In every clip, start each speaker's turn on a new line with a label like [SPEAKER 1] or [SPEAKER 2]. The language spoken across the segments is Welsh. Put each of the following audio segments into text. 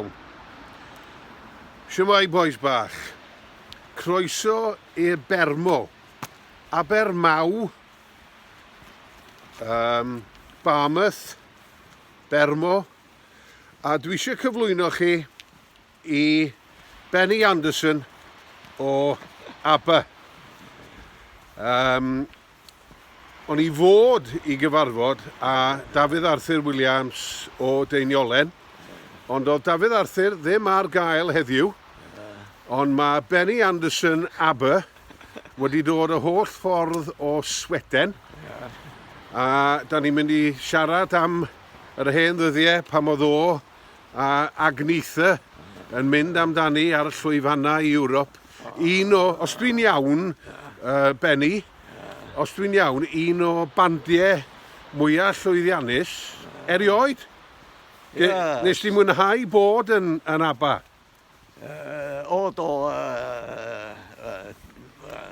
[SPEAKER 1] Iawn. Siwmai bois bach. Croeso i'r Bermo. Abermaw. Um, Barmouth. Bermo. A dwi eisiau cyflwyno chi i Benny Anderson o Aber. Um, O'n i fod i gyfarfod â Dafydd Arthur Williams o Deiniolen, ond doedd Dafydd Arthur ddim ar gael heddiw, ond mae Benny Anderson AB wedi dod y holl ffordd o Sweden, a da ni'n mynd i siarad am yr hen ddyddiau pan oedd o a Agnetha yn mynd amdani ar y llwyfannau i Ewrop. Un o, os dwi'n iawn, uh, Benny, os dwi'n iawn, un o bandiau mwyaf llwyddiannus erioed. Yes. Nes di mwynhau bod yn, yn ABBA? Uh,
[SPEAKER 2] o, do, uh, uh, uh,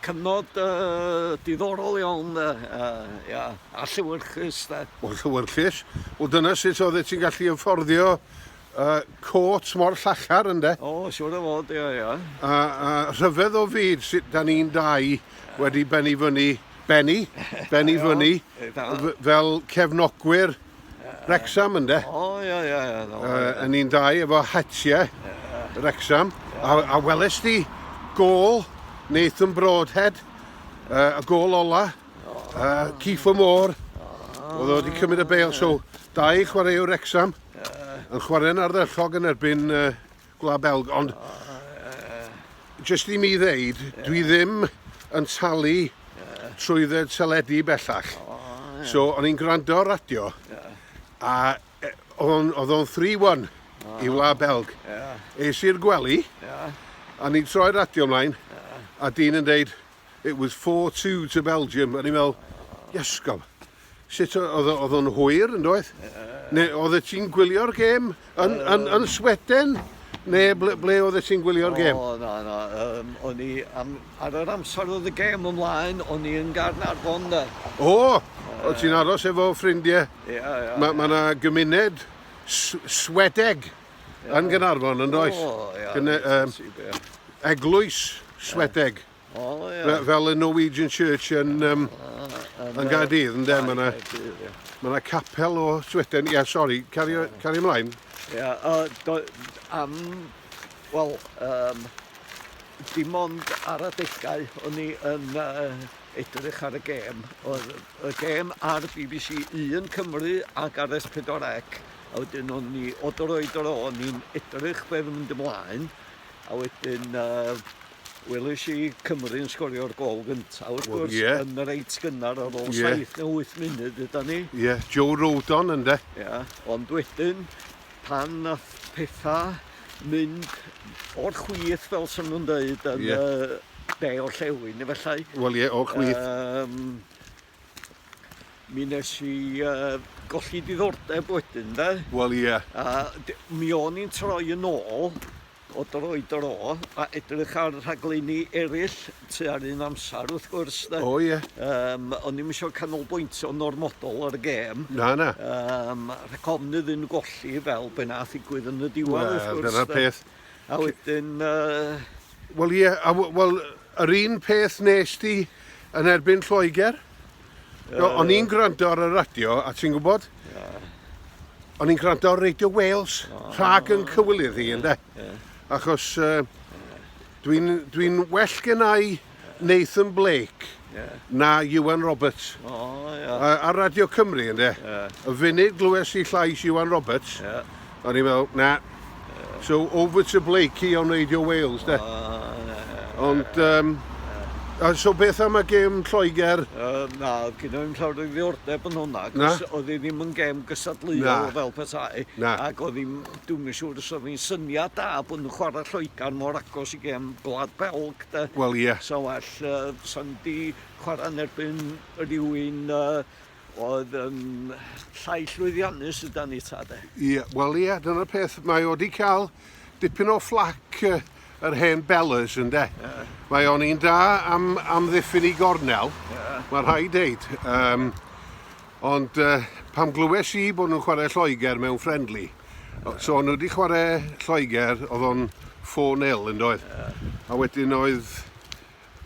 [SPEAKER 2] cyfnod uh, diddorol iawn, uh, uh, yeah, a lliwyrchus. Da. O, lliwyrchus.
[SPEAKER 1] O, dyna sut oedd ti'n gallu ymfforddio Y côt mor llachar ynde? O, siwr o fod, ia,
[SPEAKER 2] ia. A, a
[SPEAKER 1] rhyfedd o fyd sut da ni'n dau wedi benni fyny, benni, benni fyny, fel cefnogwyr Rexham ynde? O, ia, ia, ia. No, uh,
[SPEAKER 2] a ni'n dau
[SPEAKER 1] efo hatiau Rexham. A, a weles di gol Nathan Broadhead, uh, y gol ola, uh, Keefer Moore, oedd o wedi cymryd y beil, so dau chwaraewr Rexham. Uh, yn chwarae'n ardderchog yn erbyn uh, Gwlad Belg, ond uh, jyst i mi ddeud, uh, dwi ddim yn talu uh, trwy dded teledu bellach. Uh, yeah. So, o'n i'n gwrando ar radio, yeah. a e, oedd o'n 3-1 uh, i Wlad Belg. Yeah. Eis i'r gwely, yeah. a ni'n troi'r radio ymlaen, yeah. a dyn yn deud, It was four two to Belgium, o'n i'n meddwl, iesgob, sut oedd oedd o'n hwyr yn doedd? Neu oedd e ti'n gwylio'r gêm yn, um, yn, yn Sweden? Neu ble, ble oedd e ti'n gwylio'r gêm? O, na, na, um,
[SPEAKER 2] o'n i, am, ar yr amser oedd y gêm ymlaen, o'n i yn Garnarfon da. O,
[SPEAKER 1] o ti'n aros efo ffrindiau? Ie, ie. Mae yna
[SPEAKER 2] gymuned
[SPEAKER 1] Swedeg. Yn Gynarfon, yn does? O, ia. Gyne, um,
[SPEAKER 2] eglwys
[SPEAKER 1] Swedeg. O, ia.
[SPEAKER 2] Fel y Norwegian
[SPEAKER 1] Church yn, um, yn Gaerdydd, yn dem yna. Mae yna capel o Sweden. Ia, sori, cario, cario ymlaen. Ia,
[SPEAKER 2] uh, am... Wel, um, dim ond ar adegau o'n i yn uh, edrych ar y gêm. Oedd y gêm ar BBC 1 Cymru ac ar S4C a wedyn o'n ni o dro i dro o'n i'n edrych be' fy'n mynd ymlaen a wedyn yy welish i Cymru yn sgorio'r gol gynta wrth Wel, gwrs ie. yn y reit gynnar ar ôl Ie. saith neu wyth munud ydan ni. Ie, Joe Rodon
[SPEAKER 1] ynde? Ia, ond
[SPEAKER 2] wedyn pan nath petha mynd o'r chwith fel sa nhw'n deud yn Ie. yy de orllewin efallai. Wel ie, o'r chwith.
[SPEAKER 1] Yym
[SPEAKER 2] Mi nes i uh, golli diddordeb wedyn, de? Wel, ie. Yeah. A
[SPEAKER 1] mi
[SPEAKER 2] o'n i'n troi yn ôl o dro i dro a edrych ar rhaglenni eraill tu ar un amser, wrth gwrs. De. O, ie. Yeah. Um,
[SPEAKER 1] o'n i'n eisiau
[SPEAKER 2] canolbwyntio normodol ar y gêm. Na, na. Um,
[SPEAKER 1] rhaid ofn
[SPEAKER 2] iddyn nhw golli fel be nath i gwyd yn y diwedd, well, wrth gwrs. Wel, dyna'r peth. A
[SPEAKER 1] wedyn...
[SPEAKER 2] Uh,
[SPEAKER 1] Wel, ie, yeah, wel, Yr un peth wnest ti yn erbyn Lloegr? No, o'n i'n gwrando ar y radio, a ti'n gwybod? O'n i'n gwrando ar Radio Wales, rhag yn cywilydd i, ynddo? Achos uh, dwi'n dwi well gennau Nathan Blake na Iwan Roberts. Ar Radio Cymru, ynddo? Y funud glywes i llais Iwan Roberts, O'n i'n meddwl, na. So over to Blakey on Radio Wales, de? Ond, um, A so beth am y gêm Lloegr? Uh, na, oedd gen
[SPEAKER 2] i'n llawer o ddiordeb yn hwnna, cos oedd hi ddim yn gêm gysadleuol fel petai. Na. Ac oedd hi'n, dwi'n yn siŵr os oedd hi'n syniad da bod nhw'n chwarae Lloegr mor agos i gêm Gwlad Belg, de. Wel, ie. Yeah. So well,
[SPEAKER 1] uh,
[SPEAKER 2] sa'n di chwarae yn erbyn rhywun uh, Oedd yn llai llwyddiannus yda ni ta de? Ie, wel ie, dyna'r peth.
[SPEAKER 1] Mae o wedi cael dipyn o fflac uh, yr hen Bellers ynde. Yeah. Mae o'n un da am, am ddiffyn i gornel, yeah. mae rhai deud. Um, ond uh, pam glywes i bod nhw'n chwarae Lloegr mewn friendly, yeah. so nhw wedi chwarae Lloegr, oedd o'n 4-0 yn doedd. Yeah. A wedyn oedd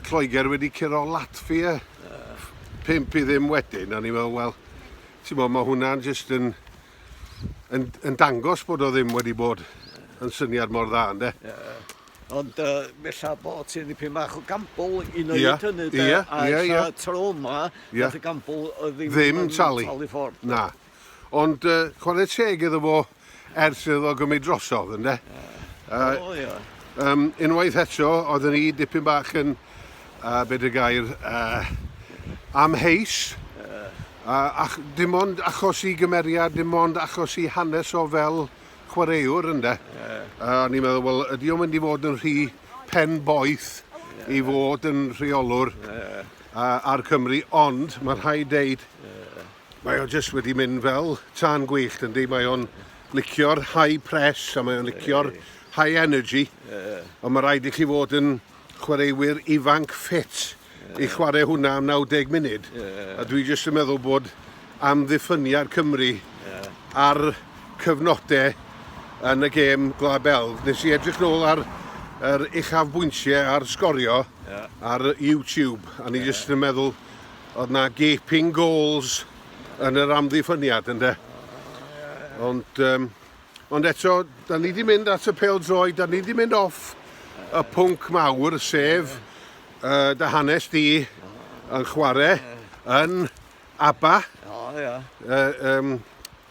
[SPEAKER 1] Lloegr wedi curo Latvia 5 i ddim wedyn, a ni fel, wel, ti'n mo, mae hwnna'n jyst yn, yn, yn dangos bod o ddim wedi bod yn syniad mor dda, ynddo? Yeah. Ond
[SPEAKER 2] uh, bella bod ti'n dipyn bach o gambl i wneud yeah. hynny, de? Yeah. A yeah, yeah. tro yma, yeah. y gambl ddim, ddim yn talu. talu ffordd. Na.
[SPEAKER 1] Ond uh, chwarae teg iddo fo, Ers iddo fo gymryd drosodd, ynde? Ie. Uh, o, ie. Um, unwaith eto, oedden ni dipyn bach yn, uh, beth y gair, uh, amheus. Ie. Uh, ach, dim ond achos i gymeriad, dim ond achos i hanes o fel chwaraewr, ynde? Ie. Uh, o'n i'n meddwl, wel, ydy o'n mynd i fod yn rhy pen boeth yeah. i fod yn rheolwr yeah. uh, ar Cymru, ond mae'n rhaid deud, yeah. Mae o jyst wedi mynd fel tân gwyllt yndi, mae o'n licio'r high press a mae o'n licio'r high energy, ond mae rhaid i chi fod yn chwaraewyr ifanc ffit i chwarae hwnna am 90 munud, a dwi jyst yn meddwl bod amddiffyniad Cymru ar cyfnodau yn y gêm Gwlad Belg. Nes i edrych nôl ar yr uchafbwyntiau a'r sgorio ar YouTube, a ni jyst yn meddwl Oedd na gaping goals yn yr amddiffyniad ynde? Ond, um, ond eto, da ni wedi mynd at y pel droi, da ni wedi mynd off y pwnc mawr, sef uh, dy hanes di yn chwarae yn ABBA. O, ia. Uh, um,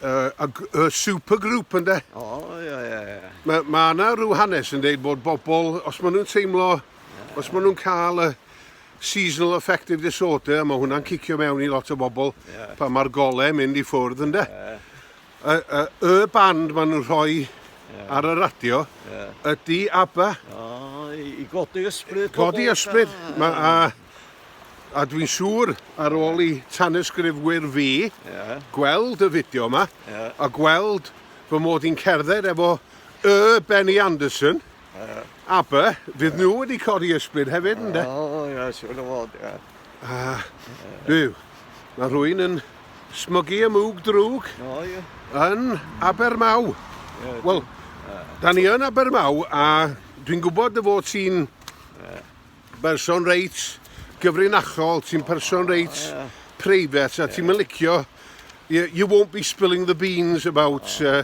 [SPEAKER 1] uh, a, a supergroup yn de. O, ia, ia, ia. Mae ma yna rhyw hanes yn dweud bod bobl, os maen nhw'n teimlo, yeah. os maen nhw'n cael y, Seasonal affective disorder, mae hwnna'n cicio mewn i lot o bobl yeah. pan mae'r golau yn mynd i ffwrdd ynde. Yeah. Y, y, y band maen nhw'n rhoi yeah. ar y radio yeah. ydy ABBA. Oh, I
[SPEAKER 2] godi ysbryd. Godi ysbryd. Ah.
[SPEAKER 1] Ma, a, a dwi'n siŵr ar ôl i tanysgrifwyr fi yeah. gweld y fideo yma yeah. a gweld fy mod i'n cerdded efo y Benny Anderson. Aber, fydd nhw wedi codi ysbryd hefyd, ynddo? O, ia, siwr o fod,
[SPEAKER 2] ia. A,
[SPEAKER 1] byw, mae rhywun yn smygu y mwg drwg yn Abermaw. Wel, da ni yn Abermaw, a dwi'n gwybod dy fod ti'n Berson reit gyfrinachol, ti'n person reit private a ti'n licio, you won't be spilling the beans about uh,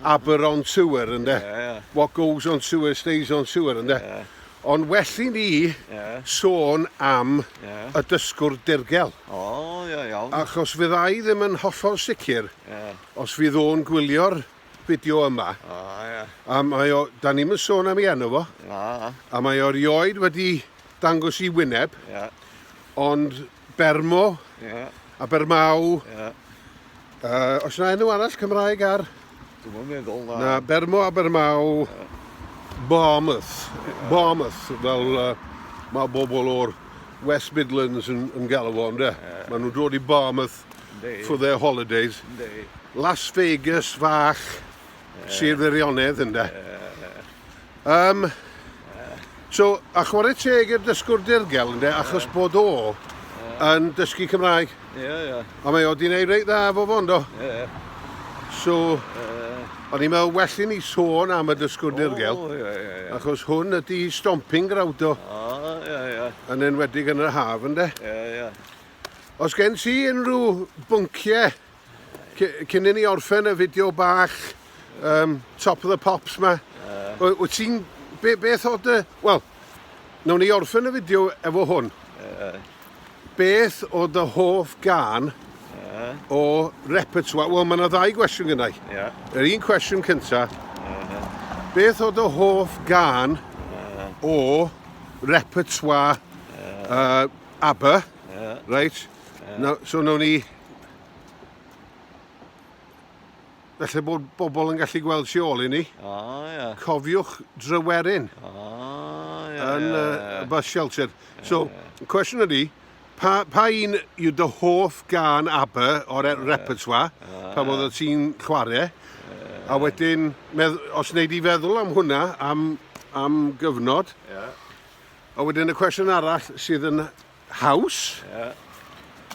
[SPEAKER 1] Aber on Sewer ynde. Yeah, yeah. What goes on sewer stays on sewer ynde. Yeah. Ond well i ni yeah. sôn am yeah. y dysgwr dirgel. O, oh, iawn. Yeah, yeah. Achos fyddai ddim yn hollol sicr yeah. os fydd o'n gwylio'r fideo yma. O, ie. A mae o... Da ni'n mynd sôn am ei enw fo. Na. A mae o rioed wedi dangos i wyneb. Ie. Ond Bermo. Ie. A Bermau. Ie. Uh, os yna enw arall Cymraeg ar... Dwi'n meddwl
[SPEAKER 2] na. Na, Bermo a Bermau.
[SPEAKER 1] Ie. Barmouth. Ie. Barmouth, fel... Uh, mae bobl o'r West Midlands yn, yn galw fo, ynddo? Ie. Maen nhw'n dod i Barmouth. for their holidays. Las Vegas fach, Sir Feirionnydd, ynde. Um, so, a chwarae teg i'r dysgwr dirgel, ynde, achos bod o yn dysgu Cymraeg. Ie, ie. A mae o di wneud reit dda fo fo, ynddo? Ie. So, o'n i'n meddwl well i ni sôn am y dysgwr dirgel, O, ie, ie, ie. achos hwn ydi stomping grawd o, O, ie, ie. yn enwedig yn yr haf, ynde? Ie, ie. Os gen ti unrhyw bynciau cyn i ni orffen y fideo bach um, top of the pops ma, uh. wyt ti'n... Be, beth oedd dy... Wel, nawn ni orffen y fideo efo hwn. Uh. Beth oedd dy hoff gan uh. o repertoire? Wel, mae yna ddau gwestiwn gynnau. Yeah. Yr un cwestiwn cynta. Uh. Beth oedd dy hoff gan uh. o repertoire uh. Uh, Aber. Yeah. Reit. Yeah. No, so nawn ni... Felly bod bobl yn gallu gweld si ôl i ni. O, oh, ie. Yeah. Cofiwch drywerin. O, oh, ie. Yeah, yn y yeah, yeah. bus shelter. Yeah, so, yeah. cwestiwn ydy, pa, pa un yw dy hoff gan Aber o'r yeah. repertoire, yeah. pa bod yeah. ti'n chwarae, yeah. a wedyn, medd, os wneud i feddwl am hwnna, am, am gyfnod, yeah. A wedyn y cwestiwn arall sydd yn haws yeah.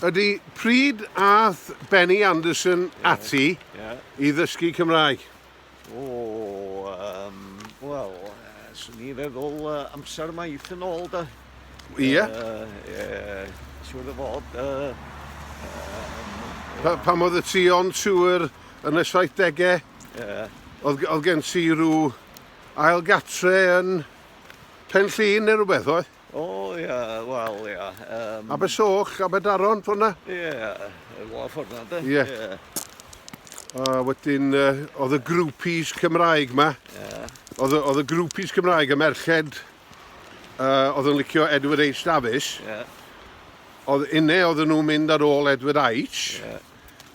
[SPEAKER 1] ydy pryd ath Benny Anderson yeah. ati yeah. i ddysgu Cymraeg? O, oh,
[SPEAKER 2] um, wel, uh, swn i feddwl uh, amser maith yn ôl da. Ie? Yeah.
[SPEAKER 1] Uh, yeah,
[SPEAKER 2] siwr o fod. Uh, um,
[SPEAKER 1] pa, pam oedd y ti on tŵr yn y 70au? Yeah. Oedd, oedd gen ti rhyw ail gatre yn Pen Llŷn neu rhywbeth oedd? O oh, ia, yeah,
[SPEAKER 2] wel ia. Yeah. Um... Abersoch,
[SPEAKER 1] Aberdaron, ffordd na? Ie, yeah, efo
[SPEAKER 2] ffordd na, da. Ie. Yeah. Yeah.
[SPEAKER 1] A wedyn, uh, oedd y grwpis Cymraeg ma. Ie. Yeah. Oedd, oedd y grwpis Cymraeg y merched, uh, oedd yn licio Edward H. Davies. Ie. Yeah. Oedd unne oedd nhw'n mynd ar ôl Edward H. Ie. Yeah.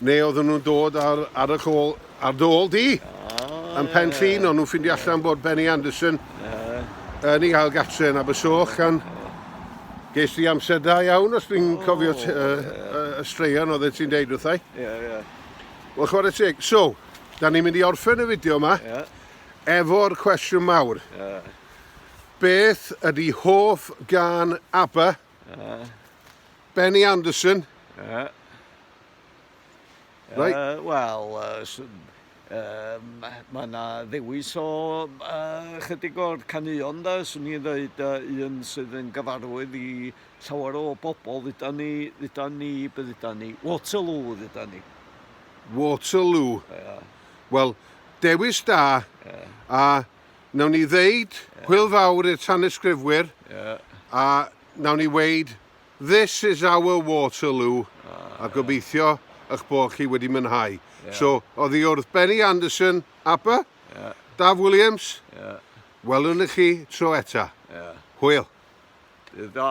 [SPEAKER 1] Neu oedden nhw'n dod ar, ar y col, ar dy ôl di, oh, yn pen llun, ond nhw'n ffindio allan bod Benny Anderson yn ei gael gatre yn Abersoch, gan ges di amser da iawn, os dwi'n oh, cofio y uh, straeon oedd e ti'n deud wrthau. Ie, yeah, ie. Yeah. Wel, chwarae teg. So, da ni'n mynd i orffen y fideo yma, yeah. efo'r cwestiwn mawr. Yeah. Beth ydy hoff gan ABBA? Uh, Benny Anderson? Uh, right. Uh, Wel, uh,
[SPEAKER 2] um, mae yna ddewis o uh, chydig o'r caneuon da, swn i'n dweud uh, un sydd yn gyfarwydd i llawer o bobl, ddyda ni, ddyda ni, bydda ni, Waterloo, ddyda ni. Waterloo.
[SPEAKER 1] Yeah. Wel, dewis da, yeah. a Nawn ni ddeud yeah. hwyl fawr i'r tanysgrifwyr yeah. a nawn ni weid this is our Waterloo ah, a gobeithio yeah. eich bod chi wedi mynhau. Yeah. So, oedd hi wrth Benny Anderson, Abba, yeah. Daf Williams, yeah. welwn i chi tro eta. Yeah. Hwyl. Dydd da.